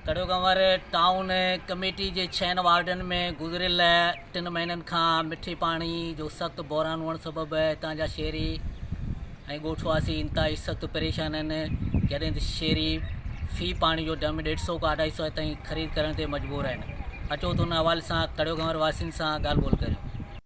ڪڙو ڪنور town committee جي ڇهن وارڊن ۾ گذريل ٽن مهينن کان مٺي پاڻي جو سخت بحران هئڻ سبب هتان جا شهري ۽ ڳوٺ واسي انتهائي سخت پريشان آهن جڏهن ته شهري في پاڻي جو ڊرم ڏيڍ سئو کان اڍائي سئو تائين خريد ڪرڻ تي مجبور آهن اچو ته ان حوالي سان ڪڙو ڪنور واسين سان ڳالهه ٻولهه ڪريون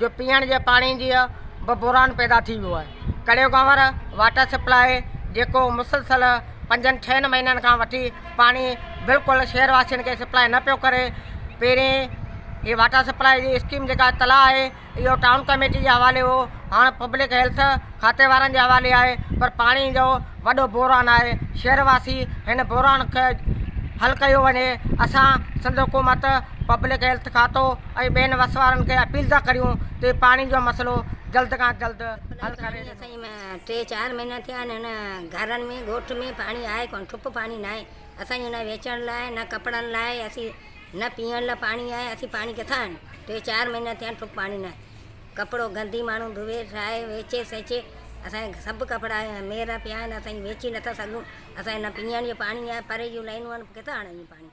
جو پيئڻ جي پاڻي جي به بحران پيدا ٿي ويو آهي. ڪڙيو گهنور واٽر سپلاء جيڪو مسلسل پنجن ڇهن مهينن کان وٺي پاڻي بلڪل شهر واسين کي سپلاء نه پيو ڪري پهرين هي واٽر سپلاء جي اسڪيم جيڪا تلاء آهي اهو ٽائون ڪميٽي جي حوالي هو هاڻ پبلڪ هيلٿ کاتي وارن جي حوالي آهي پر پاڻي جو وڏو بحران آهي شهر واسي هن بحران کي حل ڪيو وڃي اسان سنڌ حڪومت پبلڪ هيلٿ کاتو ۽ ٻين وسوارن کي اپيل ٿا ڪريون ته پاڻي جو مسئلو جلد کان جلد حل ڪري ڏنو اسين ۾ ٽي چار مهينا ٿيا آهن هن گهرن ۾ ڳوٺ ۾ پاڻي آهي ڪونه ٺپ پاڻي نه آهي اسان جي نه ويچڻ لاء نه ڪپڙن لاء اسين نه پيئڻ لاء پاڻي آهي اسين پاڻي ڪٿان آڻيون ٽي چار مهينا ٿيا آهن ٺپ پاڻي نه آهي ڪپڙو گندي ماڻهو ڌوئي ٺاهي ويچي سيچي اسان جا سڀ ڪپڙا ميرا پيا آهن اسان ويچي نٿا سگهون اسان جي نه پيئڻ جو پاڻي آهي پري جون لائنون آهن ڪٿان آڻيون پاڻي